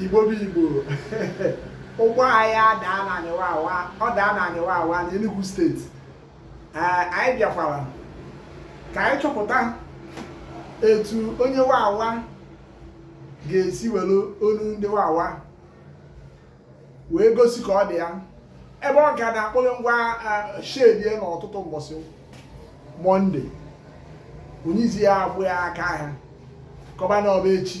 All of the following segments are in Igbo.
igbo bụ igbo ụgbọ anyị adaa na anị Wawa ọ daa na anị Wawa na Enugu steeti anyị bịakwara ka anyị chọpụta etu onye Wawa ga-esi were onu ndị Wawa wee gosi ka ọ dị ya ebe ọ ka na-akpọghe ngwa shedi e n'ụtụtụ mbọsị mọnde onye izi ya agba ya aka ahịa kọba na ọ bụ echi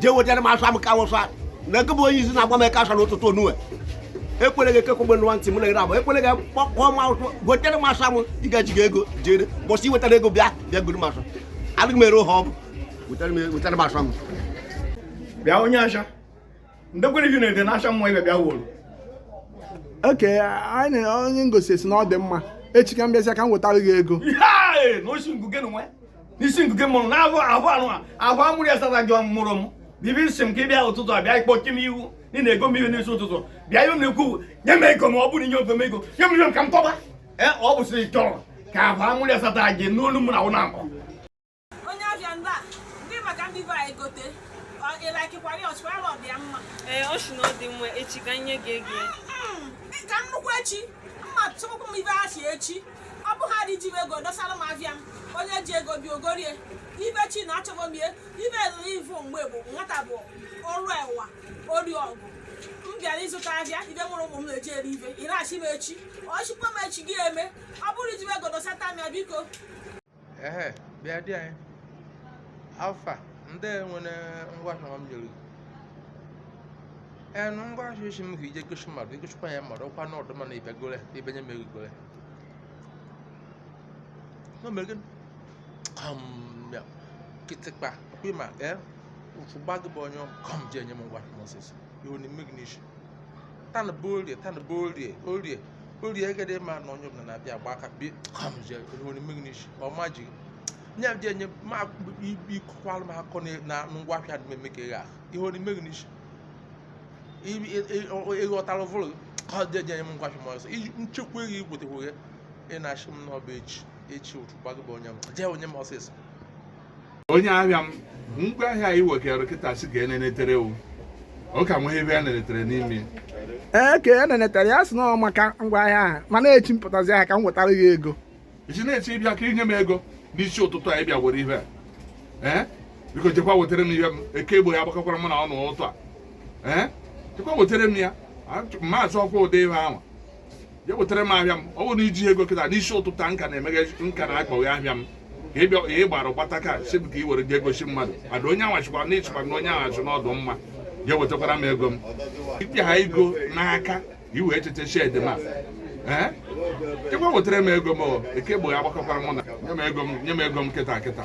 jee wetara m ashụa mụ ka awụsa na gị bụ onye izi na-agba m eka ashụa n'ụtụtụ onue ekwere gị ekekwe nwa ntị m na-ere abụ ekwere gị kpọkpọ m awụsụ wetara m ashụa mụ ị gaji gị ego jere mbọsị i wetara ego bịa bịa goro m ashụa adịghị m ere ụha ọ bụ wetara m ashụa mụ bịa onye asha ndekwere gị na-ede na asha mmụọ ibe bịa wolu okay anyị na onye ngosi si na ọ dị mma echi ka m bịazịa ka m wetara gị ego Hey! na osi ngụ gị na nwe n'isi nke mụrụ na ahụ ahụ anụ ahụ amụrụ ya sara gị mụrụ m bibi nsị m ka ị bịa ụtụtụ a bịa ịkpọchi m ihu ị na-ego m ihe n'isi ụtụtụ bịa ihe m na-ekwu nye m ego ma ọ bụrụ inye ofe m ego nye m ihe m ka m tọba ee ọ bụ sịrị chọrọ ka ahụ amụrụ ya sata gị n'olu mụ na ụlọ akpọ onye afịa ndị a ndị maka ndị be anyị gote ịlakikwara ya ọ sịkwa ọ dị ya mma ee ọ sị na ọ dị mma echi ka nye gị ego ya ka nnukwu echi mma tụkwụ m ibe a si echi ọ bụ ha dị ji m ego dosara m afịa m onye ji ego bịa ọ gorie ibe chi na achọbọ m ihe ibe elele ivu mgbe bụ nwata bụ ọrụ ewa ori ọgụ m bịara ịzụta ahịa ibe nwere ụmụ m na-eji eri ibe ị na-asị m echi ọ sịkwa m echi gị eme ọ bụrụ ji m ego dosata m ya biko ehe bịa di anyị how far ndị nwere ngwa ahịa m nyere ee na ngwa ahịa ị sị m ga-eje gosi mmadụ i gosikwa ya mmadụ ọkwa na ọdụ mana ibe gole ibe nye mere gole no mere gịnị kọm ya kịtịkpa ọkwa ịma ee ụfụ gba gị bụ onye kọm ji enye m ngwa ahịa m ọsịsọ ihe na-eme gị n'isi tana bụ orie tana bụ orie orie orie egede ma na onye ọbụla na-abịa agba aka bi kamje ihe na-eme gị n'isi ọma ji nya dị enye ma ikọkwalụ m akọ na- na ngwa ahịa dị eme ka ịgha ihe na-eme gị n'isi ịghọtara vụrụ ka ọ dị enye m ngwa ahịa m ọsọ iji nchekwa gị igwetekwu gị ị na-asị m na ọ bụ echi echi otu gbago bụ onye m jee onye m ọsịsọ onye ahịa m ngwa ahịa anyị wekere kịta si ka e nenetere o ọ ka nweghị ebe a nenetere n'ime ee ka e nenetere ya si na ọ maka ngwa ahịa ahụ mana echi m pụtazi ahịa ka m wetara gị ego ị sị na echi ị bịa ka i nye m ego n'isi ụtụtụ anyị bịa were ihe a ee biko jekwa wetara m ihe m eke egbo ya agbakakwara m na ọnụ ụtụtụ a ee jekwa wetara m ya maazị ọkwa ụdị ihe ahụ ya wetara m ahịa m ọ bụrụ na i ji ego kịta n'isi ụtụtụ m ka na-emeghe m ka na-akpọghe ahịa m ka ị bịa ị gbara gbata ka sị m ka ị were jee gosi mmadụ ada onye anwachikwa na ịchịkwa na onye anwachị n'ọdụ mma ya wetakwara m ego m ị pịa ha ego n'aka i wee cheta shed m a ngwa wetara m ego m nke mbụ ya gbakọkwara m ọnụ nye m ego m nye m ego m kịta kịta